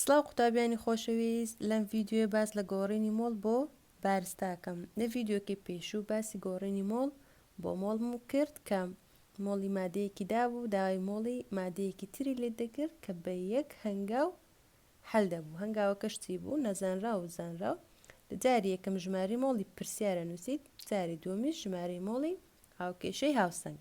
سڵاو قوتابیانی خۆشەویست لەم ڤیدیۆیە باس لە گۆڕینی مۆڵ بۆ بارستاکەم لە ڤیدیۆکەی پێشوو باسی گۆڕینی مۆڵ بۆ مۆڵم کرد کە مۆڵی مادەیەکی دابوو داوای مۆڵی مادەیەکی تری لێت دەکرد کە بە یەک هەنگاو حەل دەبوو هەنگاوەکەش چی بوو نەزانراو و زانراو لە جاری یەکەم ژمارەی مۆڵی پرسیارە نووسیت جاری دووەمیش ژمارەی مۆڵی هاوکێشەی هاوسەنگ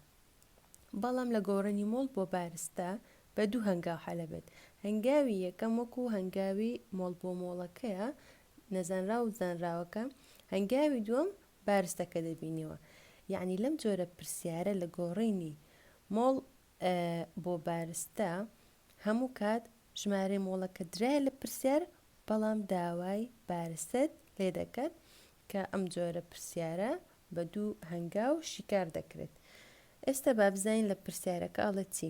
بەڵام لە گۆڕینی مۆڵ بۆ بارستە بە دوو هەنگاو حەلەبێت هەنگاوی یەکەم وەکو هەنگاوی مۆڵ بۆ مۆڵەکەیە نەزانراو و زانراوەکە هەنگاوی دووەم بارستەکە دەبینیەوە یەعنی لەم جۆرە پرسیارە لە گۆڕینی مۆڵ بۆ بارستە هەموو کات ژمارەی مۆڵەکە درایە لە پرسیار بەڵام داوای بارستەت لێ دەکات کە ئەم جۆرە پرسیارە بە دوو هەنگاو شیکار دەکرێت ئێستا بابزین لە پرسیارەکە ئەڵێ چی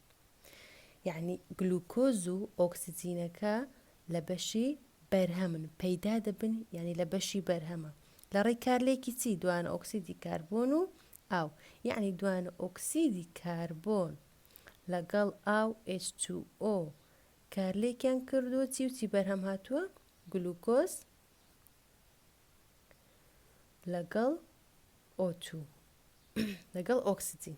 یەعنی گلوکۆز و ئۆکسجینەکە لە بەشی بەرهەمن پەیدا دەبن یەعنی لە بەشی بەرهەمە لە ڕێی کارلێکی چی دوانە ئۆکسیدی کاربۆن و ئاو یەعنی دوانە ئۆکسیدی کاربۆن لەگەڵ ئاو H2O کارلێکیان کردووە چی و چی بەرهەم هاتووە گلوکۆز لەگەڵ ئۆتو لەگەڵ ئۆکسجین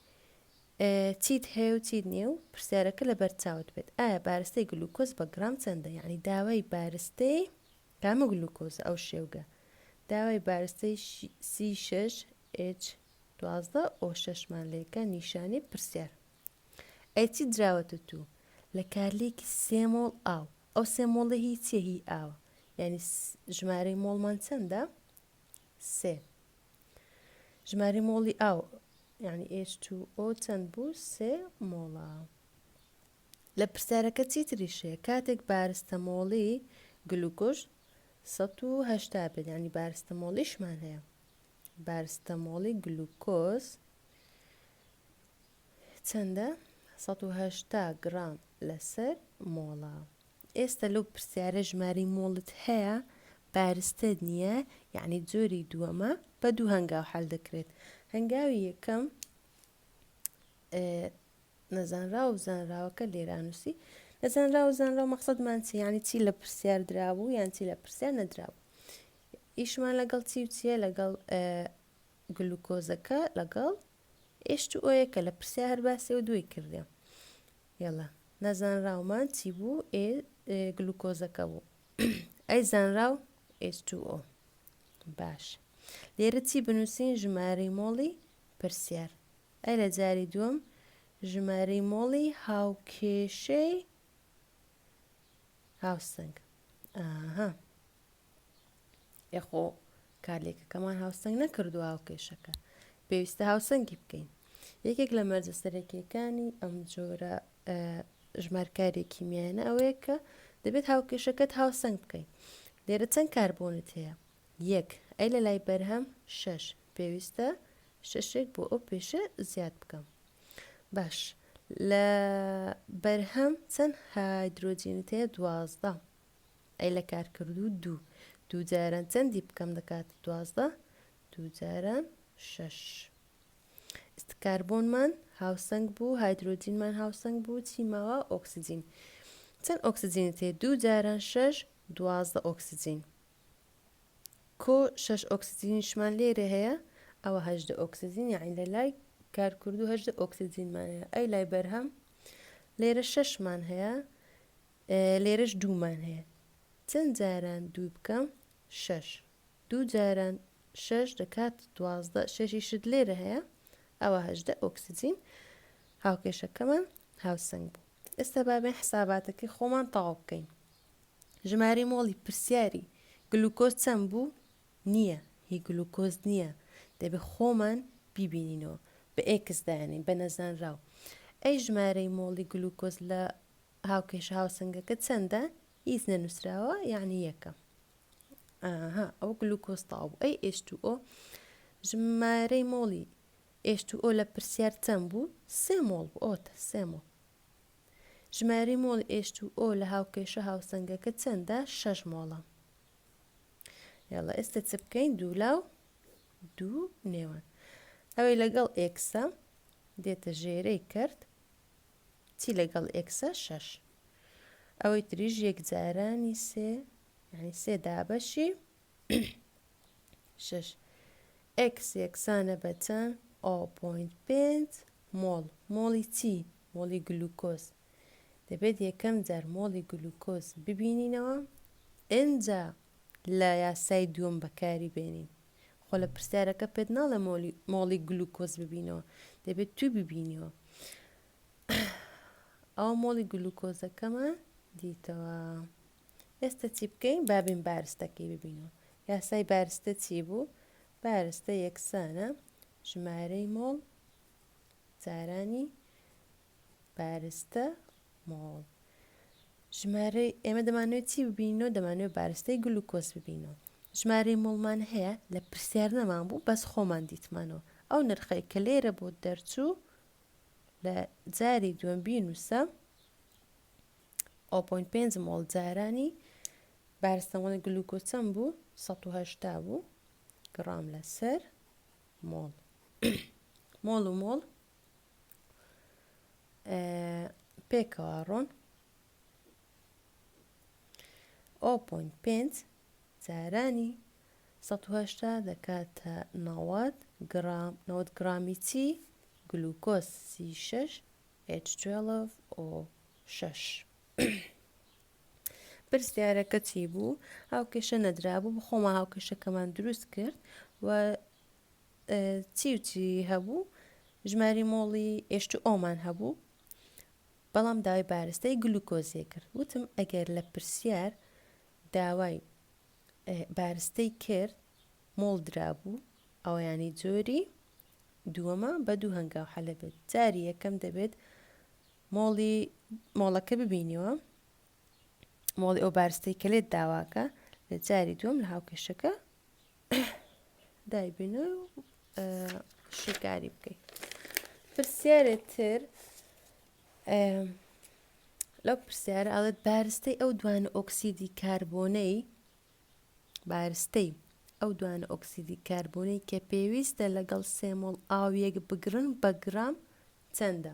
چیت هەیە و چیت نییە و پرسیارەکە لەبەر چاوت بێت ئایا بارستەی گلوکۆز بە گڕام چەندە یعنی داوای بارستەی کامە گلوکۆزە ئەو شێوگە داوای بارستەی سی شش ئچ دوازدە ئۆ شەشمان لێکە نیشانی پرسیار ئەی چی دراوەتە تو لە کارلێکی سێ مۆڵ ئاو ئەو سێ مۆڵە هی چیە هی ئاوە یعنی ژمارەی مۆڵمان چەندە سێ ژمارەی مۆڵی ئاو یعنی H2O چەند بوو سێ مۆڵە لە پرسیارەکە چیتریش هەیە کاتێک بارستەمۆڵی گلوکۆش 1970 بێت ینی بارستەمۆڵیشمان هەیە بارستەمۆڵی گلوکۆز چەندە 1970 گرام لەسەر مۆڵە ئێستا لەو پرسیارە ژمارەی مۆڵت هەیە بارستەت نیە یەعنی جۆری دووەمە بە دوو هەنگاو حەل دەکرێت هەنگاوی یەکەم نەزانراو و زانراوەکە لێرانوسی نەزانراو و زانراو مەقصدمان چی یعنی چی لە پرسیار درابوو یان چی لە پرسیار نەدرابوو ئیشمان لەگەڵ چی و چیە لەگەڵ گلوکۆزەکە لەگەڵ ئێشت و ئۆیەکە لە پرسیار هەر باسێ و دوی کردێ یەڵا نەزانراومان چی بوو ئێ گلوکۆزەکە بوو ئەی زانراو H2O باش لێرە چی بنووسین ژمارەی مۆڵی پرسیار ئەی لە جاری دووەم ژمارەی مۆڵی هاوکێشەی هاوسنگ ئاها ئێخۆ کارلێکەکەمان هاوسنگ نەکردووە ئەو کێشەکە پێویستە هاوسەنگی بکەین یەکێک لە مەرجە سەرەکیەکانی ئەم جۆرە ژمارکارێکی میانە ئەوەیە کە دەبێت هاوکێشەکەت هاوسەنگ بکەین لێرە چەند کاربوونت هەیە یەک ئەی لە لای بەرهەم شش پێویستە شەشێک بۆ ئەو پێشە زیاد بکەم باش لە بەرهەم چەند هایدرۆجینت هەیە دوازدە ئەی لە کارکردوو دوو دوو جاران چەندی بکەم دەکاتە دوازدە دوو جاران شەش ئست کاربۆنمان هاوسەنگ بوو هایدرۆجینمان هاوسەنگ بوو چی ماوە ئۆکسجین چەند ئۆکسجینت هەیە دوو جاران شەش دوازدە ئۆکسجین کۆ شەش ئۆکسجینیشمان لێرە هەیە ئەوە هەشدە ئۆکسجین یاعین لە لای کارکردو هەشدە ئۆکسجینمان هەیە ئەی لای بەرهەم لێرە شەشمان هەیە لێرەش دوومان هەیە چەند جاران دوو بکەم شەش دوو جاران شەش دەکات دوازدە شەشی شت لێرە هەیە ئەوە هەژدە ئۆکسجین هاوکێشەکەمان هاوسنگ بوو ئێستا بابێن حساباتەکەی خۆمان تەواو بکەین ژماری مۆڵی پرسیاری گلوکۆز چەند بوو نییە هی گلوکۆز نییە دەبێ خۆمان بیبینینەوە بە ئێکس دانین بە نەزانراو ئەی ژمارەی مۆڵی گلوکۆز لە هاوکێشە هاوسەنگەکە چەندە؟ هیچ نەنووسراوە یعنی یەکە ئاها ئەو گلوکۆز تاو بوو ئەی ئێش تو ئۆ ژمارەی مۆڵی ئێش تو ئۆ لە پرسیار چەند بوو سێ مۆڵ بوو ئۆتە سێ مۆڵ ژمارەی مۆڵی ئێش تو ئۆ لە هاوکێشە هاوسەنگەکە چەندە شەش مۆڵە یاڵە ئێستا چ بکەین دوولاو دوو نێوان ئەوەی لەگەڵ ئێکسە دێتە ژێرەی کرد چی لەگەڵ ئێکسە شەش ئەوەی تریش یەکجارانی سێ یعنی سێ دابەشی شش ئێکس یەکسانە بە چەند ئەو پوینت پێنج مۆڵ مۆڵی چی مۆڵی گلوکۆز دەبێت یەکەم جار مۆڵی گلوکۆز ببینینەوە ئنجا لە یاسای دووەم بەکاری بێنین خۆ لە پرسیارەکە پێت ناڵێ مۆلی مۆڵی گلوکۆز ببینەوە دەبێت توی ببینیەوە ئەو مۆڵی گلوکۆزەکەمان دیتەوە ئێستا چی بکەین بابین بارستەکەی ببینەوە یاسای بارستە چی بوو بارستە یەکسانە ژمارەی مۆڵ جارانی بارستە مۆڵ ژمارەی ئێمە دەمانوێت چی ببینەوە دەمانوێت بارستەی گلوکۆز ببینەوە ژمارەی مۆڵمان هەیە لە پرسیار نەمان بوو بەس خۆمان دیتمانەوە ئەو نرخەی کە لێرە بۆ دەرچوو لە جاری دووەم بینوسە 0.5 مۆڵ جارانی بارستەمەڵ گلوکۆچەم بوو 1970 بوو گڕام لەسەر مۆڵ مۆڵ و مۆڵ پێکەوە ڕۆن ئەو پۆینت پێنج جارانی سەد و هەشتا دەکاتە نەوەد گرام نەوەد گرامی چی گلوکۆز سی شەش ئۆ شەش پرسیارەکە چی بوو هاوکێشە نەدرابوو بخۆمە هاوکێشەکەمان دروست کرد و چی و چی هەبوو ژماری مۆڵی ئێش تو ئۆمان هەبوو بەڵام داوای بارستەی گلوکۆزێ کرد وتم ئەگەر لە پرسیار داوای بارستەی کرد مۆڵ درابوو ئەویانی جۆری دووەمە بە دوو هەنگاو حەلە بێت جاری یەکەم دەبێت مۆڵی مۆڵەکە ببینیەوە مۆڵی ئەو بارستەی کە لێت داواکە لە جاری دووەم لە هاوکێشەکە دایبنو شیکاری بکەیت پرسیارە تر لەو پرسیارە ئەڵێت بارستەی ئەو دوانە ئۆکسیدی کاربۆنەی بارستەی ئەو دوانە ئۆکسیدی کاربۆنەی کە پێویستە لەگەڵ سێمۆڵ ئاویەک بگرن بە گرام چەندە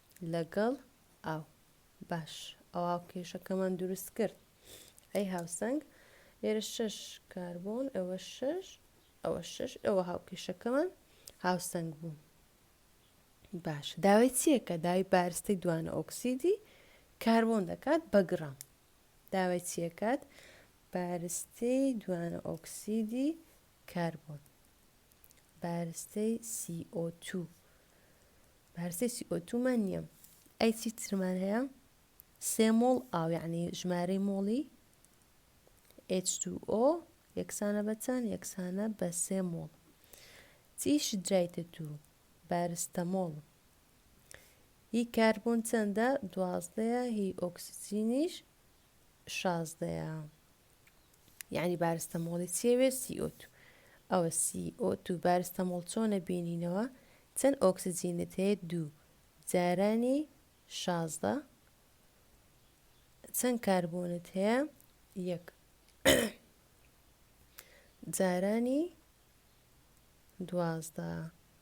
لەگەڵ ئاو. باش ئەوا کێشەکەمان دروست کرد. ئەی هاوسەنگ لێرە شەش کاربۆن ئەوە شەش ئەوە شەش ئەوە هاوکێشەکەمان هاوسەنگ بوو. باش داوای چیەکە داوای بارستەی دوانە ئۆکسیدی کاربۆن دەکات بە گڕام. داوای چیەکات بارستەی دوانە ئۆکسیدی کاربۆن. بارستەی CO2 بارستەی CO2 من نییە ئەی چی ترمان هەیە سێ مۆڵ ئاو یعنی ژمارەی مۆڵی H2O یەکسانە بە چەند یەکسانە بە سێ مۆڵ چی شدرایتە تو بارستە مۆڵ هی کاربۆن چەندە دوازدەیە هی ئۆکسجینیش شازدەیە یعنی بارستەمۆڵی چیە وێ CO2 ئەوە CO2 بارستەمۆڵ چۆنە بینینەوە چەند ئۆکسجینت هەیە دوو جارانی شازدە چەند کاربۆنت هەیە یەک جارانی دوازدە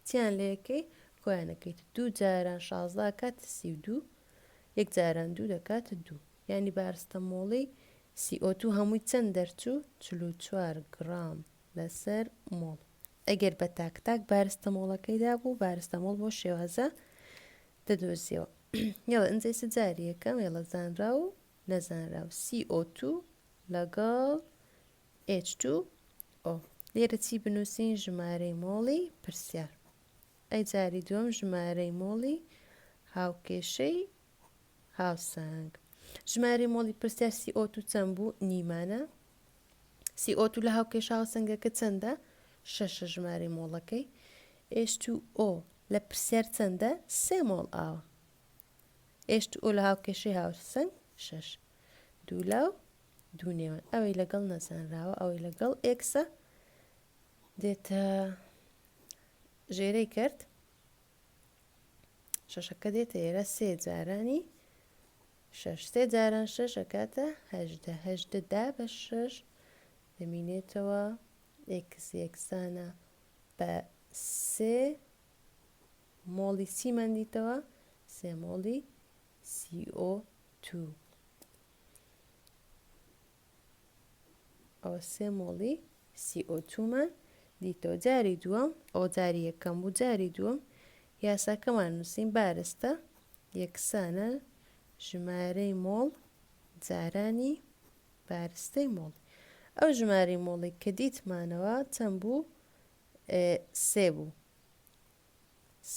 چیان لەکەی کۆیانەکەیت دوو جاران شازدە کات سی و دوو یەک جاران دوو دەکات دوو یانی بارستەمۆڵی سی ئۆ توو هەمووی چەند دەرچوو؟ چل و چوار گڕام لەسەر مۆڵ. ئەگەر بە تاک تاک بارستەمۆڵەکەی دابوو بارستەمۆڵ بۆ شێوازە دەدۆزیەوە. یەڵە ئنجەی چ جاریەکەم یەڵە زانرا و نەزانراو سی ئۆ توو لەگەڵ ئێچ توو ئۆ. لێرە چی بنووسین ژمارەی مۆڵی پرسیار. ئەی جاری دووەم ژمارەی مۆڵی هاوکێشەی هاوسەنگ. ژمارەی مۆڵی پرسیار CO2 چەند بوو؟ نیمانە. CO2 لە هاوکێشە هاوسەنگەکە چەندە؟ شەشە ژمارەی مۆڵەکەی. H2O لە پرسیار چەندە؟ سێ مۆڵ ئاوە. H2O لە هاوکێشەی هاوسەنگ شەش. دوو لاو دوو نێوان ئەوەی لەگەڵ نەزانراوە ئەوەی لەگەڵ ئێکسە دێتە ژێرەی کرد شەشەکە دێتە ئێرە سێ جارانی شەش سێ جاران شەش ئەکاتە هەژدە هەژدە دا بە شەش دەمینێتەوە ئێکس یەکسانە بە سێ مۆڵی سیمان دیتەوە سێ مۆڵی CO2 ئەوە سێ مۆڵی CO2مان دیتەوە جاری دووەم ئەو جاری یەکەم بوو جاری دووەم یاساکەمان نووسین بارستە یەکسانە ژمارەی مۆڵ جارانی بارستەی مۆڵ ئەو ژماری مۆڵی کە دیتمانەوە چەند بوو سێ بوو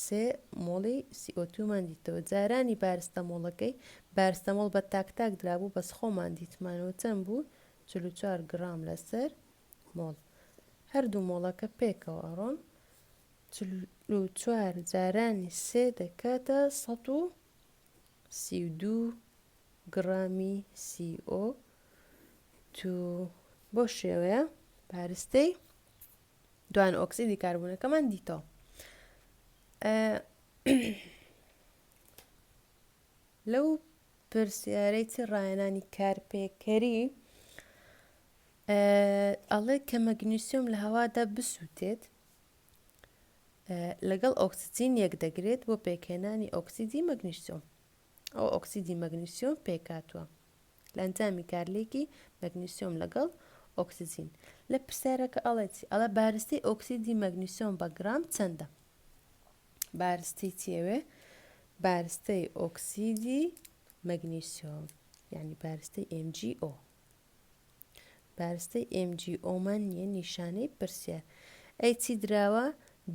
سێ مۆڵی سی ئۆ توومان دیتەوە جارانی بارستەمۆڵەکەی بارستەمۆڵ بە تاک تاک درابوو بەس خۆمان دیتمانەوە چەند بوو چل و چوار گڕام لەسەر مۆڵ هەردوو مۆڵەکە پێکەوە ئەڕۆن چل و چوار جارانی سێ دەکاتە سەد و سی و دوو گڕامی سی ئۆ تو بۆ شێوەیە پارستەی دوایان ئۆکسیدی کاربوونەکەمان دیتەوە لەو پرسیارەی چی ڕایەنانی کارپێکەری ئەڵێ کە مەگنیسیۆم لە هەوادا بسووتێت لەگەڵ ئۆکسسیین یەک دەگرێت بۆ پێکهێنانی ئۆکسسیدی مەگنیسیۆم ئەو ئۆکسسیدی مەگنیسیۆم پێکاتوە لە ئەنجامی کارلێکی مەگنیسیۆم لەگەڵ ئۆکسجین. لە پرسیارەکە ئەڵێ چی؟ ئەڵێ بارستەی ئۆکسیدی مەگنیسیۆم بە گرام چەندە؟ بارستەی چی ئەوێ؟ بارستەی ئۆکسیدی مەگنیسیۆم یعنی بارستەی MgO بارستەی MgO من نیە نیشانەی پرسیار ئەی چی دراوە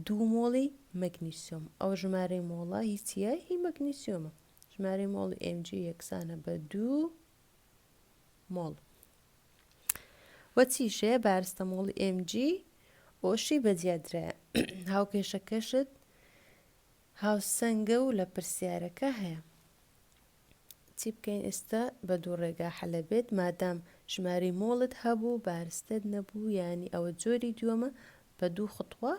دوو مۆڵی مەگنیسیۆم ئەو ژمارەی مۆڵە هیچیە هی مەگنیسیۆمە ژمارەی مۆڵی ئێم جی یەکسانە بە دوو مۆڵ وە چیشەیە بارستە مۆڵی ئێم جی ئۆشی بەجیادرایە هاوکێشەکەشت هاوسەنگە و لە پرسیارەکە هەیە چی بکەین ئێستا بە دوو ڕێگا حەلە بێت مادام ژماری مۆڵت هەبوو بارستت نەبوو ینی ئەوە جۆری دووەمە بە دوو خطوە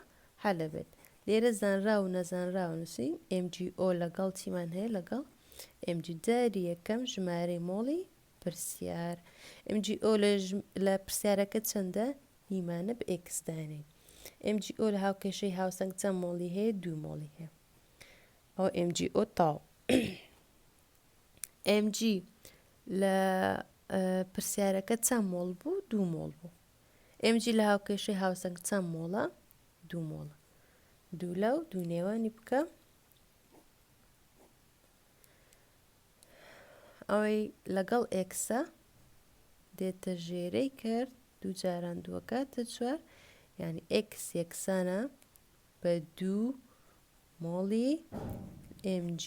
هەلەبێت لێرە زانراو و نەزانراو نوسین ئێم جی ئۆ لەگەڵ چیمان هەیە لەگەڵ ئێم جی جاری یەکەم ژمارەی مۆڵی پرسیار ئێم جی ئۆ لە لە پرسیارەکە چەندە نیمانە بە ئێکس دانێین ئێم جی ئۆ لە هاوکێشەی هاوسەنگ چەند مۆڵی هەیە دوو مۆڵی هەیە ئەو ئێم جی ئۆ تاو ئێم جی لە پرسیارەکە چەند مۆڵ بوو دوو مۆڵ بوو ئێم جی لە هاوکێشەی هاوسەنگ چەند مۆڵە دوو مۆڵە دوو لە و دوو نێوانی بکە ئەوەی لەگەڵ ئێکسە دێتە ژێرەی کرد دوو جاران دووەکاتە چوار یعنی ئێکس یەکسانە بە دوو مۆڵی MG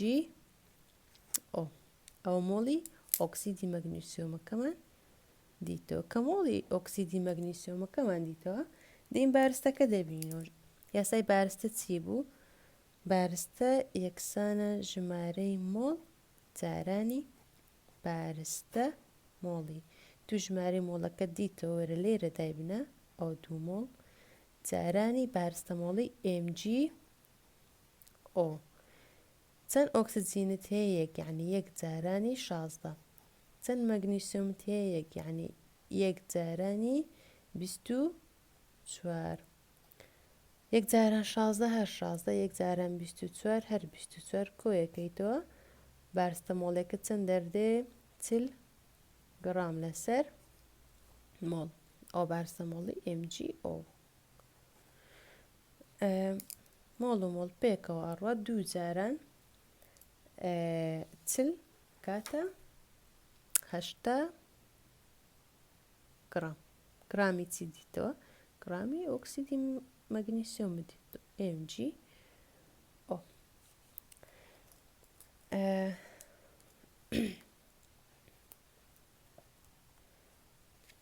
ئەو ئەوە مۆڵی ئۆکسیدی مەگنیسیۆمەکەمان دیتەوە کە مۆڵی ئۆکسیدی مەگنیسیۆمەکەمان دیتەوە دەین بارستەکە دەبینەوە یاسای بارستە چی بوو بارستە یەکسانە ژمارەی مۆڵ جارانی بارستە مۆڵی تو ژمارەی مۆڵەکە دیتەوە وەرە لێرە دایبنە ئەو دوو مۆڵ جارانی بارستە مۆڵی ئێمجی ئۆ چەند ئۆکسجینت هەیە یەک یەعنی یەک جارانی شازدە چەند مەگنیسیۆمت هەیە یەک یەعنی یەک جارانی بیست و چوار یەک جاران شازدە هەر شازدە یەک جاران بیست و چوار هەر بیست و چوار کۆیەکەیتەوە بارستەمۆڵێکت چەند دەردێ چل گڕام لەسەر مۆڵ ئەو بارستەمۆڵی ئێم جی ئۆ مۆڵ و مۆڵ پێکەوە ئەڕوە دوو جاران چل کاتە هەشتا گرام گرامی چی دیتەوە گرامی ئۆکسیدی مەگنیسیۆم دیت MG ئۆ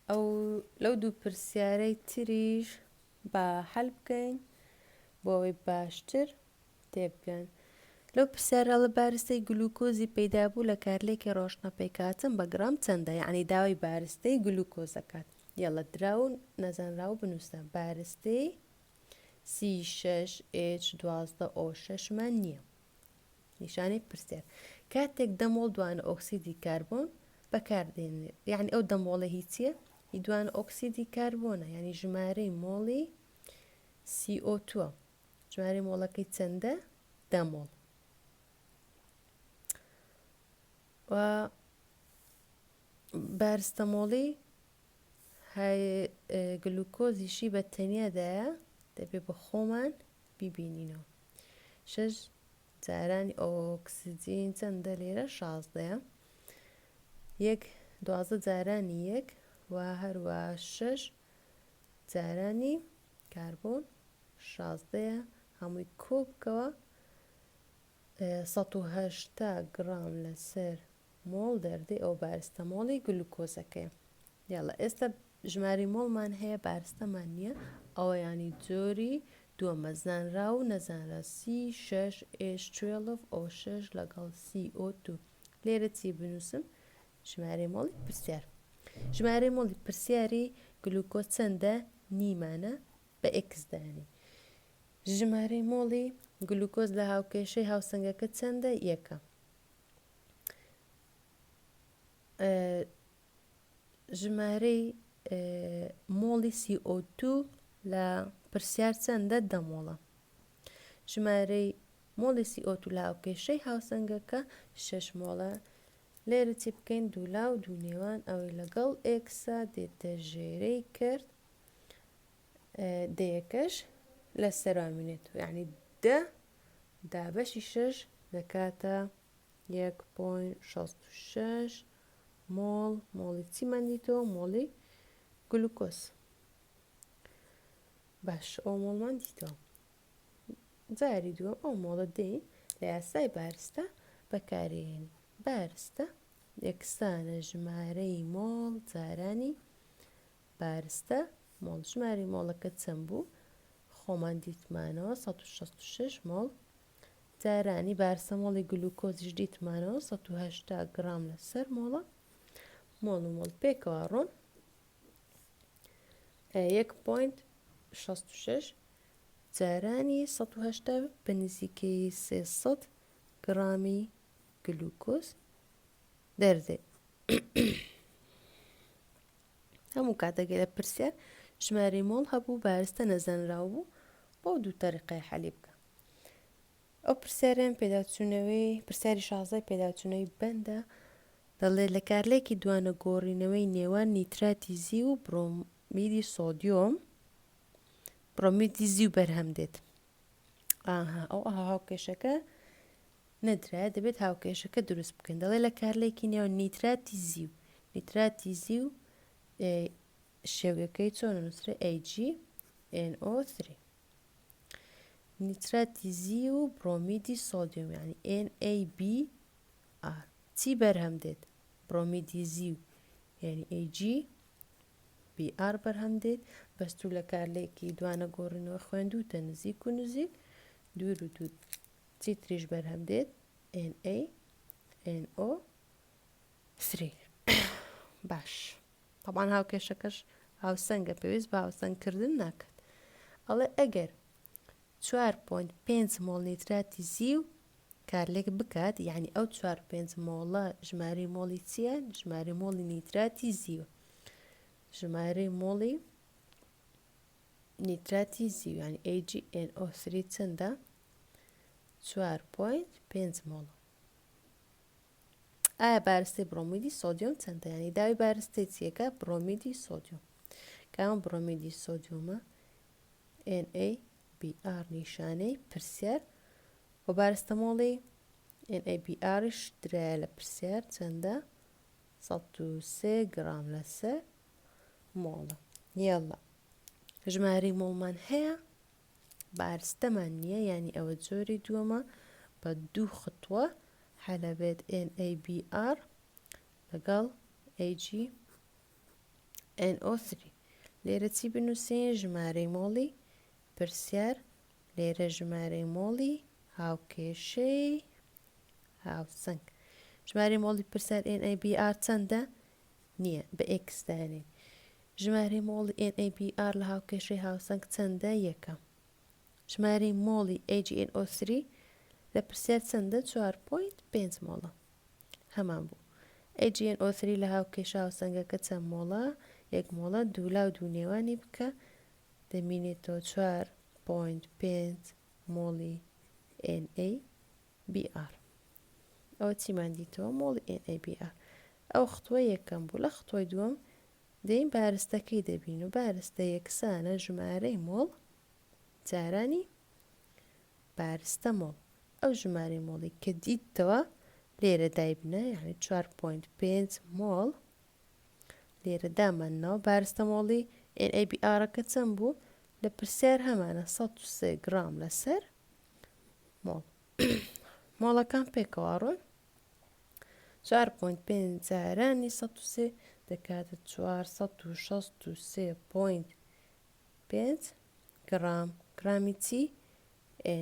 ئەو لەو دوو پرسیارەی تریش با حەل بکەین بۆ ئەوەی باشتر تێبگەن لەو پرسیارە لە بارستەی گلوکۆزی پەیدا بوو لە کارلێکی ڕۆشنە پێکاتم بە گرام چەندە یعنی داوای بارستەی گلوکۆزەکات یەڵە درا و نەزانرا و بنووسە بارستەی سی شش ئێچ دوازدە ئۆ شەشمان نییە نیشانەی پرسیار کاتێک دەمۆڵ دوانە ئۆکسیدی کاربۆن بەکاردێنێت یعنی ئەو دەمۆڵە هیچیە هی دوانە ئۆکسیدی کاربۆنە ینی ژمارەی مۆڵی CO2 ژمارەی مۆڵەکەی چەندە دەمۆڵ و بارستەمۆڵی گلوکۆزیشی بە تەنیادایە دەبێ بە خۆمان بیبینینەوە شش جارانی ئۆکسجین چەندە لێرە شازدەیە یەک دوازدە جارانی یەک و هەروە شەش جارانی کاربۆن شازدەیە هەمووی کۆ بکەوە سەد و هەشتا گڕام لەسەر مۆڵ دەردەی ئەو بارستەمۆڵی گلوکۆزەکەی یاڵە ئێستا ژمارەی مۆڵمان هەیە بارستەمان نییە ئەوە یانی جۆری دووەمە زانراو نەزانراو سی شەش ئێش توێڵڤ ئۆ شەش لەگەڵ سی ئۆ دوو لێرە چی بنووسم ژمارەی مۆڵی پرسیار ژمارەی مۆڵی پرسیاری گلوکۆ چەندە نیمانە بە ئێکس دانی ژمارەی مۆڵی گلوکۆز لە هاوکێشەی هاوسەنگەکە چەندە یەکە ژمارەی مۆڵی CO2 لە پرسیار چەندە دە مۆڵە ژمارەی مۆڵی CO2 لە هاوکێشەی هاوسەنگەکە شەش مۆڵە لێرە چی بکەین دوولا و دوو نێوان ئەوەی لەگەڵ ئێکسا دێتە ژێرەی کرد دەیەکەش لە سەرامینێت یعنی دە دابەشی شەش دەکاتە 1.66 مۆڵ، مۆڵی چی مەندی تۆ؟ مۆڵی گلوکۆز. باش ئەو مۆڵ مەندی تۆ. جاری دووەم ئەو مۆڵە دەین لە یاسای بارستە بەکارێنی بارستە یەکسانە ژمارەی مۆڵ جارانی بارستە مۆڵ ژماری مۆڵەکە چەند بوو خۆمان دیتمانەوە 1666 مۆڵ جارانی بارسەمۆڵی گلوکۆزیش دیتمانەوە سەد و هەشتا گڕام لەسەر مۆڵە مۆڵ و مۆڵ پێکەوە ڕۆن یەک پوینت شەست و شەش جارانی سەد و هەشتا بە نزیکەی سێ سەد گڕامی گلوکۆز دەردێت هەموو کاتەکە لە پرسیار ژماری مۆڵ هەبوو بارستە نەزانراو بوو بۆ دوو تەریقەی حەلی بکە ئەو پرسیاریان پێداچوونەوەی پرسیاری شازدە پێداچوونەوەی بەندە دەڵێت لە کارلێکی دوانە گۆڕینەوەی نێوان نیتراتی زیو و برۆمیدی سۆدیۆم برۆمیدی زیو بەرهەم دێت ئاها ئەو ئەها هاوکێشەکە نەدرایە دەبێت هاوکێشەکە دروست بکەین دەڵێ لە کارلێکی نێوان نیتراتی زیو نیتراتی زیو شێوگەکەی چۆن نوسرێ AgNO three نیترەتی زی و برۆمیدی سۆدیۆم یعنی NaBr چی بەرهەم دێت برۆمیدی زی و یعنی Ag BR بەرهەم دێت بەستوو لە کارلێکی دوانە گۆڕینەوە خوێندوتە نزیک و نزیک دوور و دوور چی تریش بەرهەم دێت NaNO 3 باش تەبعەن هاوکێشەکەش هاوسەنگە پێویست بە هاوسەنگ کردن ناکات ئەڵێ ئەگەر 4.5 مۆڵ نیتراتی زیو کارلێک بکات یعنی ئەو 4.5 مۆڵە ژمارەی مۆڵی چییە ژمارەی مۆڵی نیتراتی زیو ژمارەی مۆڵی نیتراتی زیویان AgNO3 چەندە 4.5 مۆڵە ئایا بارستەی بڕۆمیدی سۆدیۆم چەندە یانی داوی بارستەی چیەکە بڕۆمیدی سۆدیۆم کامە بڕۆمیدی سۆدیۆمە NaBr نیشانەی پرسیار و بارستەمۆڵی NaBrش درایە لە پرسیار چەندە 1 گرام لەسەر مۆڵە یاڵە ژماری مۆڵمان هەیە بارستەمان نیە یانی ئەوە جۆری دووەمە بە دوو خطوە حەلەبێت NABR لەگەڵ AG NO3 لێرە چی بنووسین ژمارەی مۆڵی پرسیار لێرە ژمارەی مۆڵی هاوکێشەی هاوسنگ ژمارەی مۆڵی پرسیار NABR چەندە نییە بە ئێکس دانێی. ژمارەی مۆڵی ئێن ئەی بی ئاڕ لە هاوکێشەی هاوسەنگ چەندە؟ یەکەم. ژمارەی مۆڵی ئەی جی ئێن ئۆ سری لە پرسیار چەندە؟ چوار پۆینت پێنج مۆڵە. هەمان بوو. ئەی جی ئێن ئۆ سری لە هاوکێشە هاوسەنگەکە چەند مۆڵە؟ یەک مۆڵە. دوو لا و دوو نێوانی بکە دەمینێتەوە چوار پۆینت پێنج مۆڵی ئێن ئەی. بی ئار ئەوە چیمان دیتەوە مۆڵی ئێن ئەی بی ئار ئەوە خطوە یەکەم بوو لە خطوەی دووەم دەین بارستەکەی دەبین و بارستە یەکسانە ژمارەی مۆڵ جارانی بارستە مۆڵ ئەو ژمارەی مۆڵی کە دیتەوە لێرە دایبنە یعنی 4.5 مۆڵ لێرە داماننەوە بارستە مۆڵی NABR-ەکە چەند بوو لە پرسیار هەمانە 1 گرام لەسەر مۆڵ مۆڵەکان پێکەوە ڕۆن چوار پۆینت پێنج جارانی سەد و سێ دەکاتە چوار سەد و شەست و سێ پۆینت پێنج گرام گرامی چی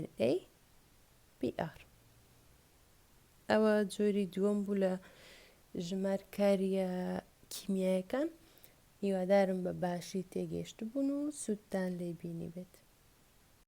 NA BR ئەوە جۆری دووەم بوو لە ژمار کاریە کیمیایەکان هیوادارم بە باشی تێگەشت بوون و سوودتان لێ بینی بێت